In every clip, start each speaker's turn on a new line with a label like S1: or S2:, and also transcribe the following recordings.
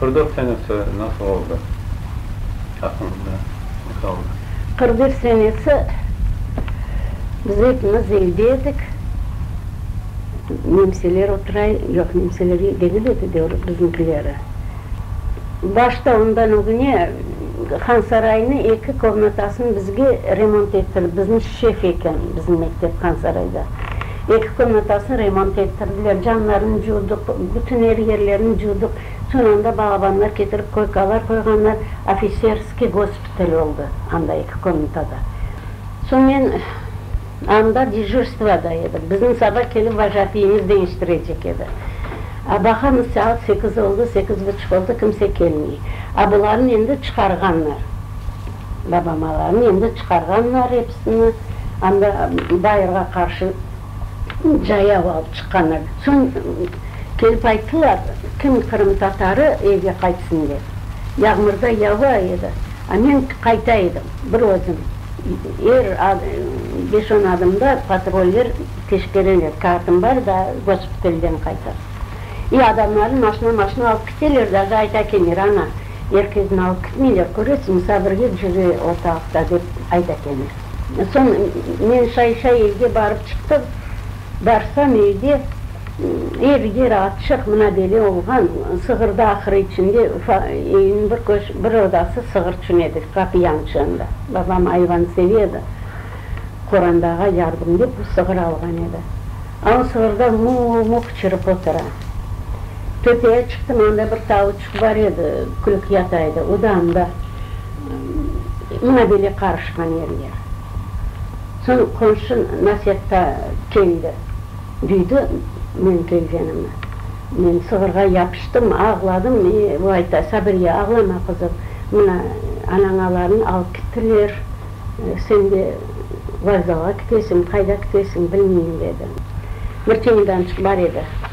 S1: Qırdev senesi nasıl oldı? Aklınızda ne qaldı? Qırdev senesi, biz epimiz evde edik. Nemseler otura, yoq, nemseler ev degil edi, devlet biznikileri. Başta ondan ögüne Hansaraynı eki komnatasını bizge remont ettirip, bizni şef eken bizim mektep Hansarayda. Eki komnatasını remont ettirdiler, camlarını cuvdıq, bütün ev yerlerini cuvdıq. Soñ anda bağbanlar ketirip koykalar qoyğanlar, ofiserskiy gospital oldı anda eki komnatada. Soñ men anda dejurstvoda edim, bizni saba kelip vojatiyimiz deñiştirecek edi. A baqamız, saat sekiz oldı, sekiz buçuq oldı, kimse kelmey. A bularnı endi çıqarğanlar, babamalarnı endi çıqarğanlar, Onı anda bayırğa qarşı cayav alıp çıqqanlar. Soñ kelip ayttılar, kim qırımtatarı evge qaytsın dep. Yağmırda yava edi, a men qayta edim, bir özüm. Er beş-on adımda patroller teşkereler, kağıtım bar da, gospitalden qayta. E, adamlarım maşna-maşna alıp keteler, daja ayta kelirler, ana, Er kes nal kütmeyle köresin, sabirge cüre ortalıqta, dep ayta kene. Soñ men şay-şay evge barıp çıqtım. Barsam, evde er-yer açıq, mına bele olğan, sığır da ahırı içinde, evniñ bir köş, bir odası sığır içün edi, qapı yançığında. Babam ayvan seve edi, qorandağa yardım dep o sığır alğan edi. A o sığırda mu-u-mu qıçırıp otura. Töpeye çıqtım, anda bir tavuç. Bar edi, kürek yataydı, odan da mına böyle qarışqan yerler. Soñ qonşu Nasetta keldi, duydı menim kelgenimni. Men sığırğa yapıştım, ağladım, e, o ayta, Sabriye, ağlama, qızım, mına anañalarnı alıp kittiler, sen de vokzalğa kitesiñ, qayda kitesiñ, bilmeyim, dedi. Bir çemedançıq bar edi.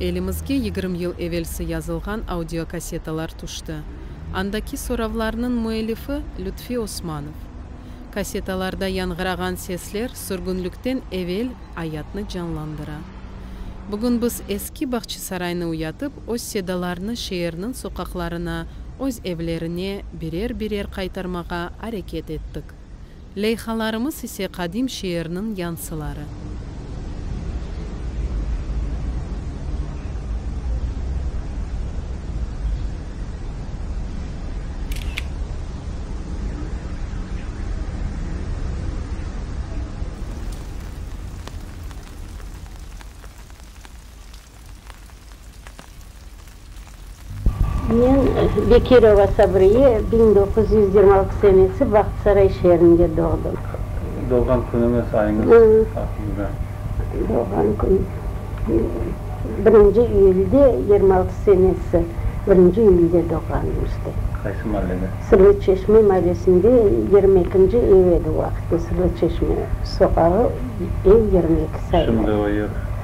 S1: Elimizge yigirmi yıl evelsi yazılğan audiokassetalar tüşti. Andaki soravlarnıñ müellifi, Lütfi Osmanov. Kassetalarda yañğırağan sesler sürgünlikten evel ayatnı canlandıra. Bugün biz eski Bağçasaraynı uyatıp, öz sedalarnı şeerniñ soqaqlarına, öz evlerine, Birer-birer qaytarmağa areket ettik. Leyhalarımız ise qadim şeerniñ yansıları. Men, Bekirova Sabriye, biñ doquz yüz yigirmi altı senesi Bahtsaray şeerinde doğdım. Doğğan künüñiz, ayıñız aqqında? Doğğan kün, birinci iyülde, yigirmi altı senesi, birinci iyülde doğğanım işte. Qaysı mallede? Sırlı çeşme mavesinde, yigirmi ekinci ev edi o vaqıtta, Sırlı çeşme soqağı, ev yigirmi eki, sayılı. Şimdi o ev?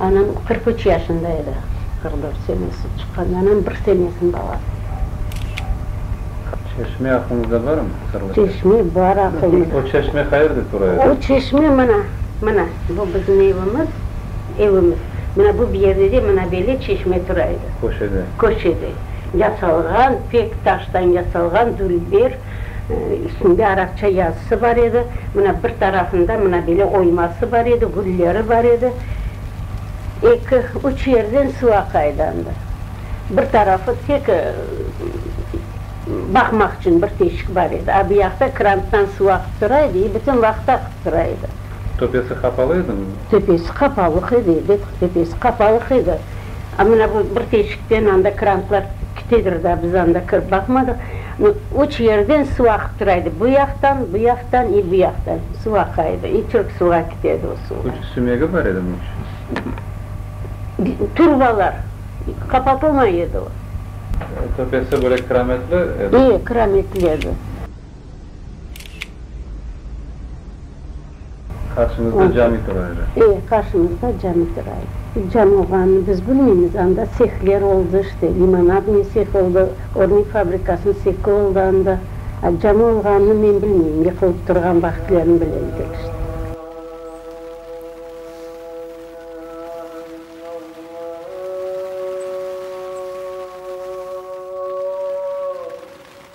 S1: Anam qırq üç yaşında edi, qırq dört senesi çıqqan, anam bir senesiniñ balası edi. Çeşme aqlıñızda barmı? Sırlı çeşme. Çeşme bar aqlımızda. O çeşme qayerde tura edi? O çeşme mına, mına, bu bizim evimiz, evimiz. Mına bu yerde de mına böyle çeşme tura edi. Köşede. Köşede. Yasalğan, pek taştan yasalğan, dülber. Üstünde araqça yazısı bar edi. Mına bir tarafında mına böyle oyması bar edi, gülleri bar edi. Eki, üç yerden suv aqaydandı. Bir tarafı tek baqmaq içün bir teşik bar edi. A buyaqta kranttan suv aqıp tura edi i bütün vaqıt aqıp tura edi. Töpesi qapalı edimi? Töpesi qapalıq edi, bet, töpesi qapalıq edi. A mına bu bir teşikten anda krantlar. Kitedir daa, biz anda kirip baqmadıq. Mı, üç yerden suv aqıp tura edi, bu yaqtan, bu yaqtan i bu yaqtan suv aqa edi. I çürk suvğa kite edi o suvlar. Üç sümegi bar edimi üç? Bi, turbalar, qapatılmay edi o. Töpesi böyle kirametli edi? E, kirametli edi. Qarşıñızda cami tura öyle. E, qarşımızda cami tura. Cami olğanını biz bilmeymiz. Anda sehler oldı, işte, limonadnıy seh oldı, örnek fabrikasınıñ sehi oldı anda. A cami olğanını men bilmeyim, yıqılıp turğan vaqıtlarını bile edik, işte.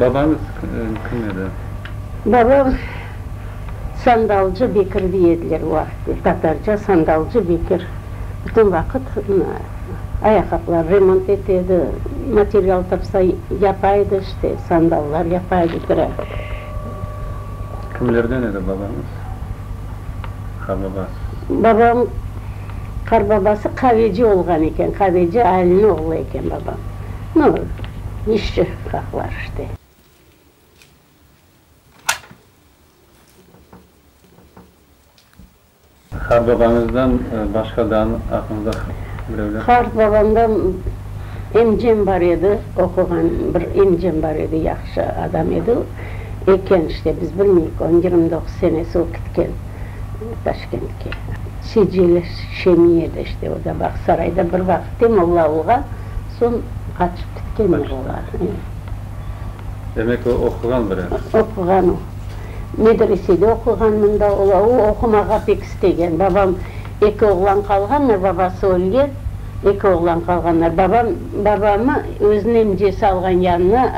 S1: Babañız kim edi? Babam, Sandalcı Bekir dey ediler o vaqıtlar, tatarca Sandalcı Bekir. Bütün vaqıt ayaqaplar remont ete edi, material tapsa yapa edi, işte sandallar yapa edi, tura. Kimlerden edi babañız, qarbabasız? Babam, qarbabası qaveci olğan eken, qaveci Aliniñ oğlu eken babam. No, işçi haqları işte. Qartbabañızdan başqa da añıñızda birevler? Qartbabamda emcem bar edi, oquğan bir emcem bar edi, yahşı adam edi. Eken işte, biz bilmeyik, onıñ yirmi doquz senesi o kitken Taşkentke. Sicileş Şemiyede işte, o da Bağsarayda bir vaqıt te molla olğan. Soñ qaçıp ketken edi olar. Demek, o oquğan biraz. Oquğan o. Medresede oquğan mında. O oqumağa pek istegen. Babam, eki oğlan qalğanlar, babası ölgen, eki oğlan qalğanlar. Babam, babamı özüniñ emcesi alğan yanına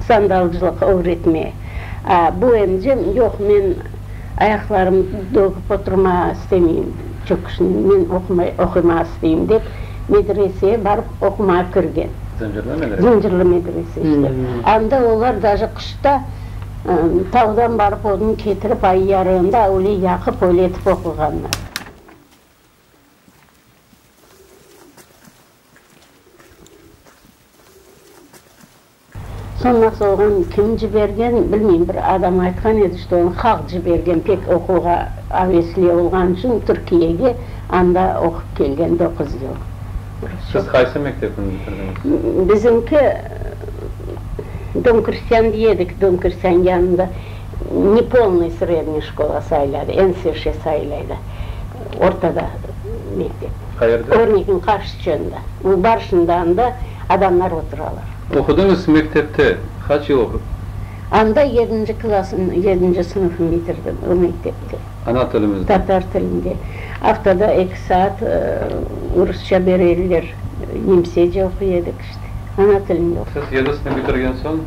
S1: sandalcılıq ögretmeye. A bu emcem, yoq, men. Ayaqlarımnı dögip oturmağa istemeyim, çünki men oqumağa isteyim, dep, medreseye barıp oqumağa kirgen. Zıncırlı medrese? Zıncırlı medrese işte. Anda olar daji qışta tavdan barıp odun ketirip, ay yarığında avule yaqıp, öyle etip oquğanlar. Soñ nasıl olğan, kim cibergen, bilmeyim, bir adam aytqan edi, işte, onı halq cibergen, pek oquğa avesli olğanı içün Türkiyege, anda oqup kelgen doquz yıl. Siz qaysı mektepni bitirdiñiz? Bizimki, Dom krestyan diye edik, Dom krestyan yanında nepolnıy sredniy şkola sayıladı, en sırşı sayılaydı, ortada mektep. Qayerde? Örnekin qarşıçında, Barışında anda. adamlar oturalar. Oqudıñız mektepte qaç yıl oqudıñız? Anda yedinci klasım, yedinci sınıfım bitirdim, o mektepte. Ana tilimizde? Tatar tilinde. Aftada eki saat rusça berediler, nemsece oquy edik işte. Ana tilinde oqudım. Siz yedi sınıf bitirgen soñ?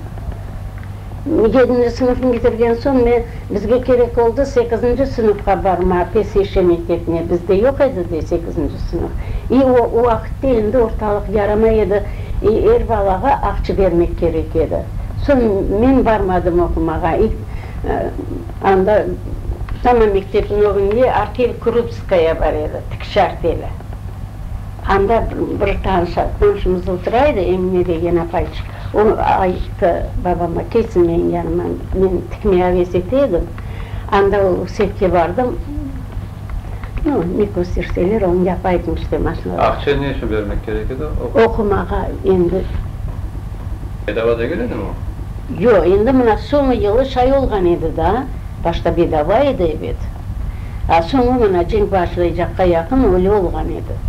S1: Yedinci sınıfnı bitirgen soñ men, bizge kerek oldı sekizinci sınıfqa barma, PSH mektebine, bizde yoq edi de sekizinci sınıf. İ o o vaqıtta endi ortalıq yaramay edi, i er balağa aqçı bermek kerek edi. Soñ men barmadım oqumağa. İ anda tamam mektebniñ ögünde artel Krupskaya bar edi, tikiş arteli. Anda bir tanış, tanışımız otura edi, Emine degen apayçıq. O ayttı babama, kelsin menim yanıma, men tikme aves ete edim, anda o sefke bardım, no, ne kösterseler, onı yapaydım işte maşinada. Aqça ne içün bermek kerek edi? Oqumağa endi. Bedava degil edimi o? Yo, endi mına soñu yılı şay olğan edi da, başta bedava edi, ebet, a soñu mına cenk başlaycaqqa yaqın öyle olğan edi.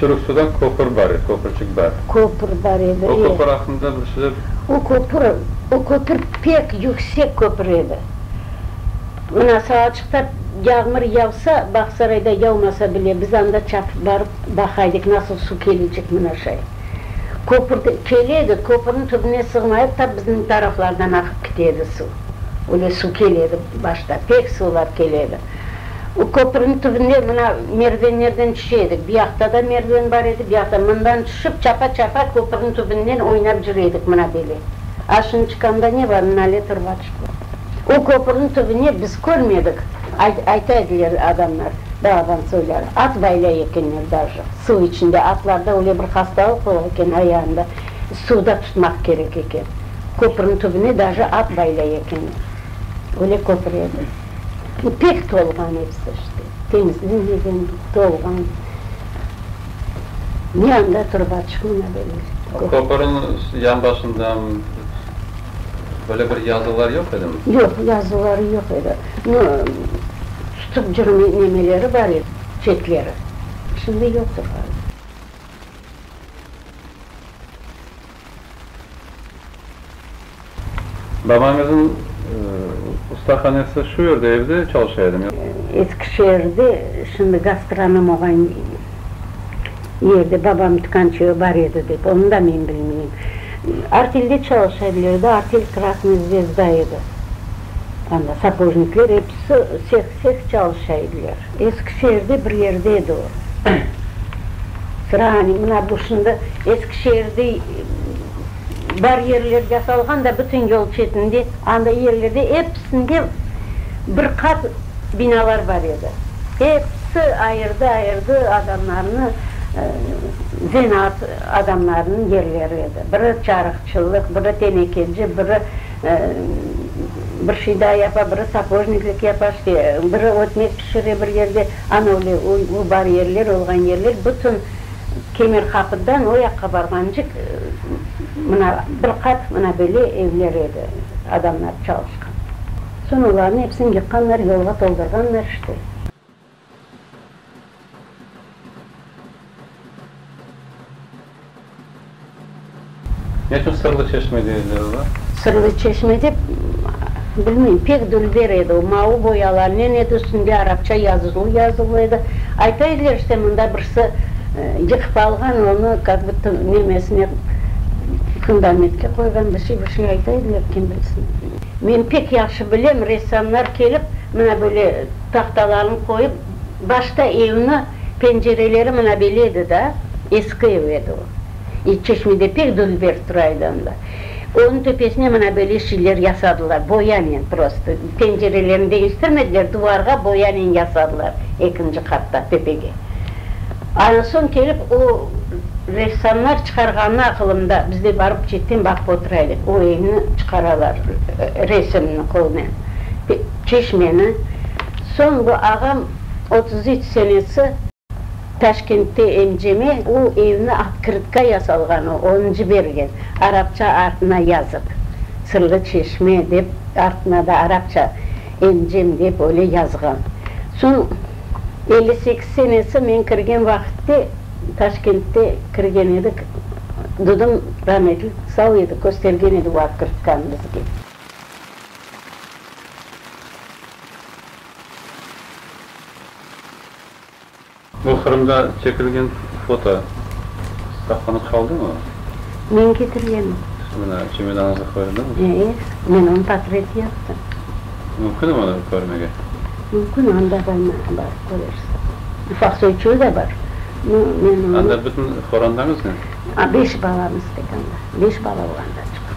S1: Çürük suda köpür bar edi, köpürçik bar. Köpür bar edi, e. O köpür aqqında bir söz. O köpür, o köpür pek yüksek köpür edi. Mına Salçıqta yağmur yavsa, Bağsarayda yavmasa bile, biz anda çapıp barıp baqaydık, nasıl su kelecek mına şay. Köpür de kele edi, köpürniñ tübüne sığmay edi, tap bizniñ taraflardan aqıp kite edi su. Öyle su kele edi başta, pek suvlar kele edi. O köprüniñ tübünde mına merdivenlerden tüşe edik. Bir yaqta da merdiven bar edi, bir yaqta. Mından tüşip, çapa-çapa köprüniñ tübünden oynap jüre edik mına böyle. A şimdi çıqamda ne bar? Nalet rvaçka bar. O köprüniñ tübüne biz körmedik, ayta ediler adamlar, balaban söylâr, at baylay ekenler daji, suv içinde. Atlarda öyle bir hastalıq bola eken ayağında, suvda tutmaq kerek eken. Köprüniñ tübüne daji at baylay ekenler. Öyle köprü edi. İpek tolğan episi işte, temizlenmegen, tolğan. Ne anda turıp açıqmı ne belli. Köpürniñ yan başında böyle bir yazılar yoq edimi? Yoq, yazıları yoq edi. No, tutıp cürme nemeleri bar edi, çetleri. Şimdi yoqtır ğaliba. Babañızın ustahanesi şu yerde, evde çalışa edimi? Eskişehirde, şimdi gastronom olğan yerde babam tükânçeyi bar edi dep, onı da men bilmeyim. Artel'de çalışa bilirdi, artel Krasnaya zvezda edi. Ana, sapojnikler episi seh-seh çalışa ediler. Eskişehirde bir yerde edi o. Sırağane, mına bu şimdi Eskişehirde bar yerler yasalğan da, bütün yol çetinde, anda yerlerde episinde bir qat binalar bar edi. Episi ayırdı-ayırdı adamlarnı, zenaat adamlarınıñ yerleri edi. Biri çarıqçılıq, biri tenekeci, biri. Bir şida yapa, biri sapojniklik yapa, işte, biri ötmek pişire bir yerde. Ana öyle u bar yerler, olğan yerler bütün Kemerqapıdan o yaqqa barğancıq mına bir qat mına böyle evler edi, adamlar çalışqan. Soñ olarnı epsini yıqqanlar, yolğa toldurğanlar, işte. Ne içün Sırlı Çeşme deyirler ola? Sırlı Çeşme dep, bilmeyim, pek dülber edi o, mavı boyalarnen edi, üstünde arapça yazızuv yazılı edi. Ayta ediler, işte, mında birisi yıqıp alğan onı, kak buta nemesine, fundamentke qoyğan, bir şey, bir şey ayta ediler, kim bilsin. Men pek yahşı bilem, ressamlar kelip, mına böyle, tahtalarnı qoyıp, başta evni pencereleri mına böyle edi da, eski ev edi o. E, çeşmede pek dülber tura edi onda. Onıñ töpesine mına böyle şeyler yasadılar, boyanen prosto. Pencerelerini deñiştirmediler, duvarğa boyanen yasadılar ekinci qatta, töpege. Ana soñ kelip o ressamlar çıqarğanı aqılımda, biz de barıp çetten baqıp otura edik, o evni çıqaralar resimni, qolınen. Çeşmeni, soñgi ağam otuz üç senesi Taşkentte emceme o evni atkırtka yasalğanı onı cibergen, arapça artına yazıp, Sırlı çeşme dep, artına da arapça emcem dep öyle yazğan. Soñ elli sekiz senesi men kirgen vaqıtte Taşkentte kirgen edik, dudım rametli, sağ edi, köstergen edi o atkırtkanı bizge. Bu Qırımda çekilgen foto saqlanıp qaldımı? Men ketirgenim. Mına çemedanıñızda qoyuldımı? Ee, men onı portret yaptım. Mümkünmi onı körmege? Mümkün, anda bolmasa barıp körersiz. Ufaq söküvi de bar. No, men onı. Anda bütün qorandañız ne? Beş balamız tek anda. Beş bala olanda çıqtıq.